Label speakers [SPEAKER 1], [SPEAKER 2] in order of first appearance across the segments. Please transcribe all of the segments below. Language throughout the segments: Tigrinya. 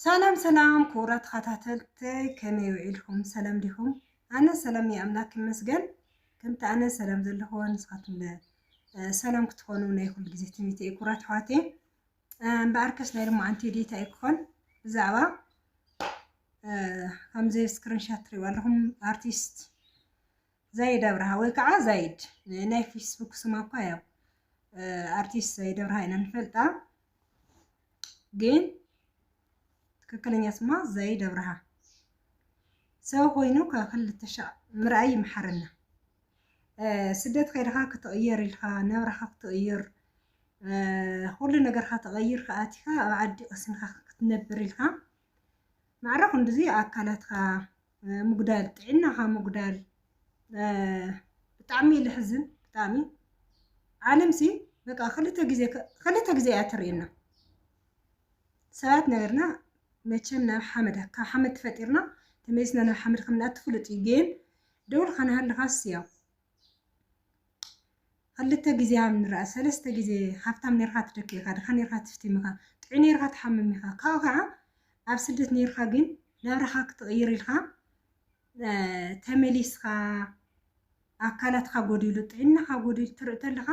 [SPEAKER 1] ሰላም ሰላም ክቡራት ተኸታተልተይ ከመይ ውዒልኩም ሰላም ዲኹም? ኣነ ሰላም እየ ኣምላክ ይመስገን። ከምቲ ኣነ ሰላም ዘለኹዎ ንስኻትኩም ለ ሰላም ክትኾኑ ናይ ኩሉ ግዜ ትምኒት እየ ክቡራት ኣሕዋት እየ እምበኣርከስ ናይ ልማዓንቲ ዴታ እዩ ክኾን ብዛዕባ ከምዚ ስክሪንሻት ትሪእዎ ኣለኹም ኣርቲስት ዛይድ ኣብርሃ ወይ ከዓ ዛይድ ናይ ፌስቡክ ስማ እኳ ያው ኣርቲስት ዛይድ ኣብርሃ ኢና ንፈልጣ፣ ግን ትክክለኛ ስማ ዛይድ ኣብርሃ ሰብ ኮይኑ ካብ ክልተ ሻዕ ምርኣይ ይምሓረና። ስደት ከይድኻ ክትቕየር ኢልካ ናብራኻ ክትቕይር ኩሉ ነገርካ ተቐይርካ ኣቲኻ ኣብ ዓዲ ቀሲንካ ክትነብር ኢልካ ማዕረ ክንድዚ ኣካላትካ ምጉዳል ጥዕናኻ ምጉዳል ብጣዕሚ ልሕዝን ብጣዕሚ ዓለምሲ በቃ ክልተ ግዜ ክልተ ግዜ እያ ትርእየና ሰባት ነገርና መቸም ናብ ሓመድ ካብ ሓመድ ተፈጢርና ተመሊስና ናብ ሓመድ ከምንኣቱ ፍሉጥ እዩ ግን ደውልካ ናሃለኻስ ያው ኽልተ ግዜ ሃብ ንርኣ ሰለስተ ግዜ ሃብታም ኔርካ ትደኪ ኢካ ድካ ኔርካ ትፍቲም ኢካ ጥዑይ ኔርካ ትሓምም ኢካ ካብኡ ካኣ ኣብ ስደት ኔርካ ግን ናብራካ ክትቅይር ኢልካ ተመሊስካ ኣካላትካ ጎዲሉ ጥዕናካ ጎዲሉ ትርኢ ተለካ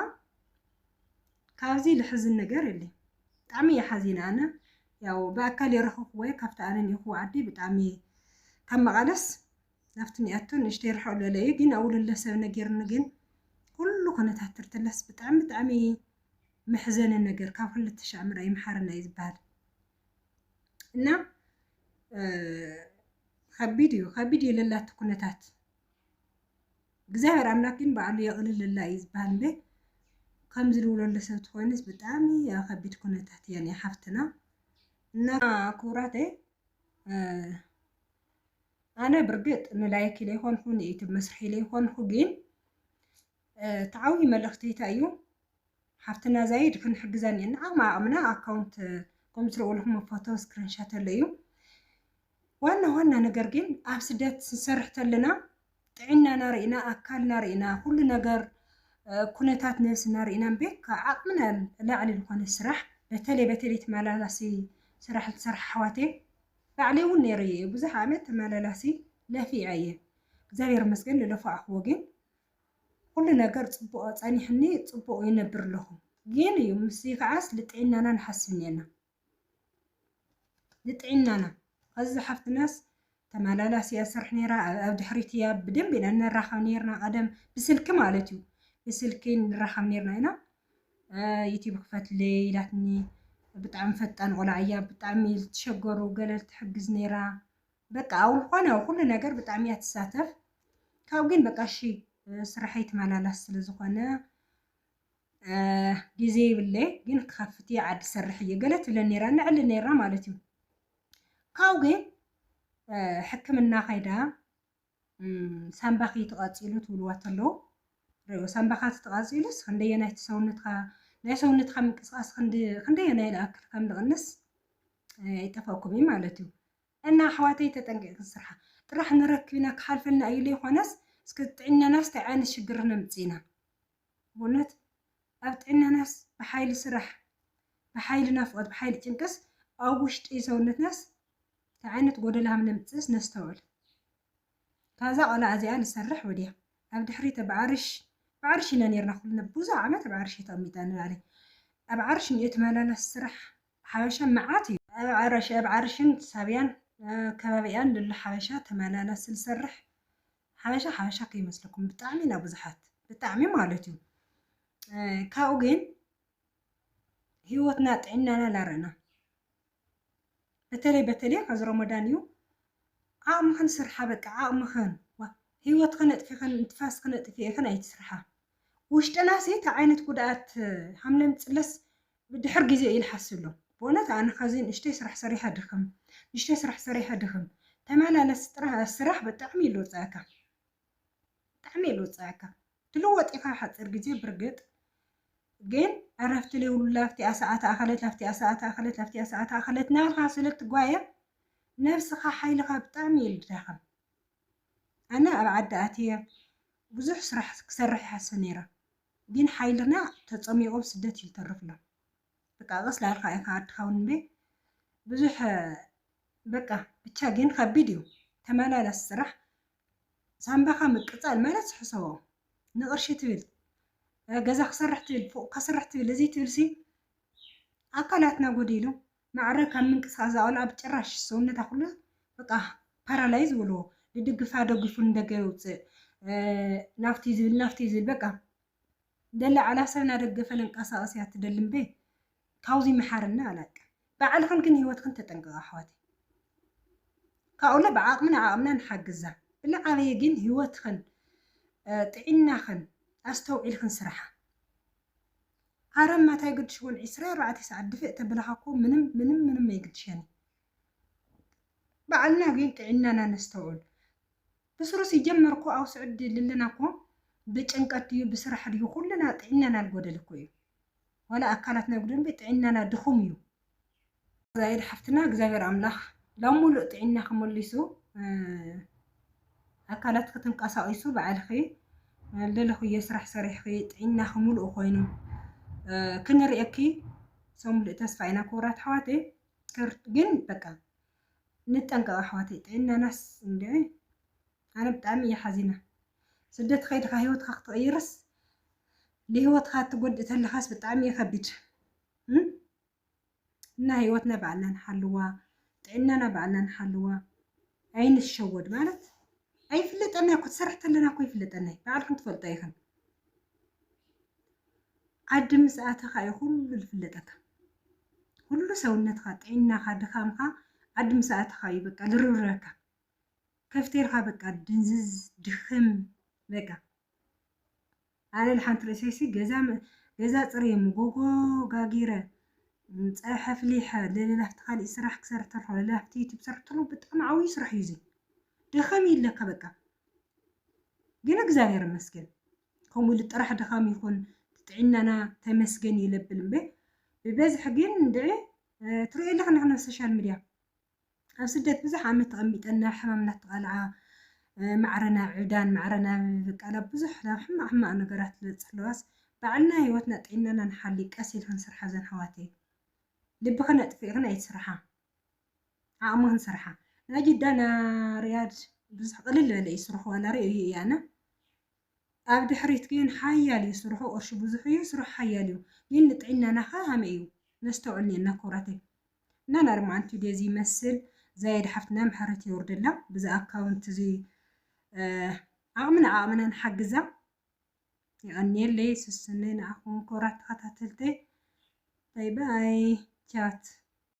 [SPEAKER 1] ካብዚ ልሕዝን ነገር የለይ ብጣዕሚ እየ ሓዚነ ኣነ ያው ብኣካል የረክብክዎ እየ ካብቲ ኣነ ኒኢክዎ ዓዲ ብጣዕሚ ካብ መቀለስ ናብቲ ሚኣቶ ንእሽተይ ርሕቕ ዝበለ እዩ ግን ኣብኡ ልለ ሰብ ነጊርኒ ግን ኩሉ ኩነታት ትርትለስ ብጣዕሚ ብጣዕሚ መሕዘኒ ነገር ካብ ክልተ ሻዕ ምርኣይ መሓርና እዩ ዝበሃል እና ከቢድ እዩ ከቢድ እዩ ለላቲ ኩነታት እግዚኣብሔር ኣምላክ ግን በዓሉ የቕልለላ እዩ ዝበሃል እምበ ከምዚ ዝብለሉ ሰብ ትኮይንስ ብጣዕሚ ኣብ ከቢድ ኩነታት እያ ሓፍትና እና ክቡራተይ ኣነ ብርግጥ ንላይክ ኢለ ይኾንኹ ንዩቱብ መስርሒ ኢለ ይኾንኹ ግን ተዓዊ መልእኽቲ እንታይ እዩ ሓፍትና ዛይድ ክንሕግዛ እኒአና ዓቕሚ ዓቕምና ኣካውንት ከምኡ ትርእውልኩም ፎቶ ስክሪንሻት ኣሎ እዩ ዋና ዋና ነገር ግን ኣብ ስደት ስንሰርሕ ተለና ጥዕናና ርኢና ኣካልና ርኢና ኩሉ ነገር ኩነታት ነብስና ርኢና እምበር ካብ ዓቅምና ንላዕሊ ዝኮነ ስራሕ በተለይ በተለይ ተመላላሲ ስራሕ ዝሰርሓ ኣሕዋተይ ባዕለይ እውን ነይረ እየ ብዙሕ ዓመት ተመላላሲ ለፊዐ እየ እግዚኣብሔር ይመስገን ዝለፋዕክዎ ግን ኩሉ ነገር ፅቡቅ ፀኒሕኒ ፅቡቅ ይነብር ኣለኹ ግን እዩ ምስ ከዓስ ልጥዕናና ንሓስብ እኒኤና ንጥዒናና ኣዚ ሓፍትናስ ተመላላሲያ ስርሕ ነራ ኣብ ድሕሪት እያ ብደንብ ኢና ንራኸብ ነርና ቀደም ብስልኪ ማለት እዩ ብስልኪ ንራኸብ ነርና ኢና ዩቲብ ክፈትለይ ኢላትኒ ብጣዕሚ ፈጣን ቆልዓ እያ ብጣዕሚ ዝተሸገሩ ገለል ትሕግዝ ነራ በቃ ኣብ ዝኾነ ኩሉ ነገር ብጣዕሚ እያ ትሳተፍ ካብ ግን በቃ እሺ ስርሐይ ተመላላስ ስለ ዝኾነ ግዜ ይብለይ ግን ክኸፍት እየ ዓዲ ሰርሕ እየ ገለ ትብለን ነይራ ንዕሊ ነይራ ማለት እዩ ካብኡ ግን ሕክምና ከይዳ ሳምባኺ ተቐፂሉ ትብልዋ ተለዉ ሪኦ ሳምባኻ ተቐፂሉስ ክንደየናይ ሰውነትካ ናይ ሰውነትካ ምንቅስቃስ ክንደየናይ ልኣክል ከም ዝቕንስ ይጠፈኩም እዩ ማለት እዩ እና ኣሕዋተይ ተጠንቂቕ ስርሓ ጥራሕ ንረክብና ክሓልፈልና እዩ ዘይኮነስ እስከ ጥዕናናስ እንታይ ዓይነት ሽግር ነምፅእና እውነት ኣብ ጥዕናናስ ብሓይሊ ስራሕ ብሓይሊ ናፍቆት ብሓይሊ ጭንቅስ ኣብ ውሽጢ ሰውነትናስ ታይ ዓይነት ጎደሎ ሃምነምጽእስ ነስተውዕል ካብዛ ቆልዓ እዚኣ ንሰርሕ ወድያ ኣብ ድሕሪት ኣብ ዓርሽ ኣብ ዓርሽ ኢና ኔርና ኩልና ብዙሕ ዓመት ኣብ ዓርሽ ተቀሚጥና ንባዕለይ ኣብ ዓርሽ እንድዩ ተመላላሲ ስራሕ ሓበሻ መዓት እዩ ኣብ ዓርሽ ኣብ ዓርሽን ሳብያን ከባቢኣን ልሉ ሓበሻ ተመላላሲ ዝሰርሕ ሓበሻ ሓበሻ ከይመስለኩም ብጣዕሚ ኢና ብዙሓት ብጣዕሚ ማለት እዩ ካብኡ ግን ህይወትና ጥዕናና ላረና በተለይ በተለይ ከዚ ረመዳን እዩ ዓቕምኽን ስርሓ በቃ ዓቕምኽን ህይወትኽን ኣጥፊኽን ንትፋስኽን ኣጥፊእኽን ኣይትስርሓ ውሽጥና ሲ እቲ ዓይነት ጉድኣት ሃምለም ፅለስ ብድሕር ግዜ ይልሓሰሉ ብእውነት ኣነ ከዚ ንእሽተይ ስራሕ ሰሪሐ ድክም ንእሽተይ ስራሕ ሰሪሐ ድክም ተመላለስ ጥራሕ ስራሕ ብጣዕሚ ይልውፀኣካ ብጣዕሚ ይልውፀኣካ ትልወጥ ኢካ ሓፂር ግዜ ብርግጥ ግን ዕረፍቲ ዘይብሉ ላፍቲኣ ሰዓት ኣኸለት ላፍቲኣ ሰዓት ኣኸለት ላፍቲኣ ሰዓት ኣኸለት ናብልካ ስለ እትጓየ ነብስኻ ሓይልኻ ብጣዕሚ እዩ ዝዳኸም ኣነ ኣብ ዓዲ ኣትየ ብዙሕ ስራሕ ክሰርሕ ይሓስብ ነይረ ግን ሓይልና ተጸሚቁ ኣብ ስደት እዩ ዝተርፍ ኣሎ በቃ ቀስ ዳልካ ኢካ ኣድካ ውን እምበይ ብዙሕ በቃ ብቻ ግን ከቢድ እዩ ተመላላስ ስራሕ ሳንባካ ምቅጻል ማለት ሕሰቦ ንቅርሺ ትብል ገዛ ክሰርሕ ትብል ፎቅ ከስርሕ ትብል እዚ ትብል ሲ ኣካላትና ጎዲሉ ማዕረ ካብ ምንቅስቃስ ዝኣወላ ኣብ ጭራሽ ሰውነታ ኩሉ በቃ ፓራላይዝ በልዎ ድድግፋ ደጊፉ ንደገ የውፅእ ናብቲ ዝብል ናብቲ ዝብል በቃ ደላ ዓላ ሰብ ናደገፈ ለንቀሳቀስ እያ ትደሊ እምበይ ካብዚ መሓርና ኣላቀ ባዕልኽን ግን ህይወትኽን ተጠንቀቃ ኣሕዋት ካብኡለ ብዓቅምና ዓቅምና ንሓግዛ ብልዓበየ ግን ህይወትኽን ጥዒናኽን ኣስተውዒልኽን ስራሓ ኣረ እማ ታይ ግድሽ ወን ዕስራ ኣርባዕተ ሰዓት ድፍእ ተብልኻ እኮ ምንም ምንም ምንም ኣይግድሸኒ ባዕልና ግን ጥዒናና ነስተውዕል ብስሩ ሲጀመር እኮ ኣብ ስዑዲ ልለና እኮ ብጭንቀት ድዩ ብስራሕ ድዩ ኩልና ጥዒናና ልጎደል እኮ እዩ ዋላ ኣካላትና ይጉደል እምበይ ጥዒናና ድኹም እዩ ዛይድ ሓፍትና እግዚኣብሔር ኣምላኽ ናብ ሙሉእ ጥዒናኺ መሊሱ ኣካላትኪ ተንቀሳቒሱ ባዕልኺ ልልኽዮ ስራሕ ሰሪሕኺ ጥዒናኺ ሙሉእ ኮይኑ ክንርእየኪ ሰው ሙሉእ ተስፋ ኢና ክቡራት ኣሕዋተይ። ግን በቃ ንጠንቀቕ ኣሕዋተይ፣ ጥዒናናስ እንደ ኣነ ብጣዕሚ እየ ሓዚና። ስደት ከይድካ ሂወትካ ክትቕይርስ ንሂወትካ እትጎድእ ተለኻስ ብጣዕሚ እዩ ከቢድ። እና ህይወትና ባዕልና ንሓልዋ፣ ጥዕናና ባዕልና ንሓልዋ፣ ኣይንሸወድ ማለት ኣይፍለጠና እኮ ትሰርሕ ተለና እኮ ይፍለጠና ባዕልኩም ትፈልጦ ኢኽን ዓዲ ምስ ኣተኻ እዩ ኩሉ ዝፍለጠካ ኩሉ ሰውነትካ ጥዕናኻ ድኻምካ ዓዲ ምስ ኣተኻ እዩ በቃ ዝርብረካ ከፍቴርካ በቃ ድንዝዝ ድኽም በቃ ኣነ ንሓንቲ ርእሰይሲ ገዛ ገዛ ጽርየ ምጎጎ ጋጊረ ጸብሐ ፍሊሐ ለለላፍቲ ካሊእ ስራሕ ክሰርሕ ተርፎ ለለላፍቲ ዩቲብ ሰርሕ ተሎ ብጣዕሚ ዓብዩ ስራሕ እዩ እዚ ደኸም ይለካ በቃ ግን እግዚኣብሔር ይመስገን ከምኡ ኢሉ ጥራሕ ድኻም ይኹን ጥዕናና ተመስገን ይለብል እምበ ብበዝሒ ግን እንድዒ ትሪኦ ኣለኺ ንሕና ሶሻል ሚድያ ኣብ ስደት ብዙሕ ዓመት ተቐሚጠን ናብ ሕማም እናተቓልዓ ማዕረ ናብ ዕብዳን ማዕረ ናብ በቃ ናብ ብዙሕ ናብ ሕማቕ ሕማቕ ነገራት ዝበፅሕ ኣለዋስ ባዕልና ህይወትና ጥዒናና ንሓሊ ቀስ ኢልክን ስርሓ ዘን ኣሕዋተይ ልብኽን ኣጥፊእኽን ኣይትስርሓ ዓቕምኽን ስርሓ ናይ ጅዳ ና ሪያድ ብዙሕ ቅልል ዝበለ እዩ ስርሑ ዋላ ሪኦ እዩ ኣነ ኣብ ድሕሪት ግን ሓያል እዩ ስርሑ ቅርሹ ብዙሕ እዩ ስርሑ ሓያል እዩ ግን ንጥዒናና ከ ሃመይ እዩ ነስተውዕል ኔርና ኩብራተይ እና ናርማ ኣንትዩ ዴዚ ይመስል ዛየድ ሓፍትና ምሕረት የውርደላ ብዚ ኣካውንት እዚ ዓቅምና ዓቅምና ንሓግዛ የቀንየለይ ስስነይ ንዓኹም ኩብራት ተኸታተልተይ ባይ ባይ ቻት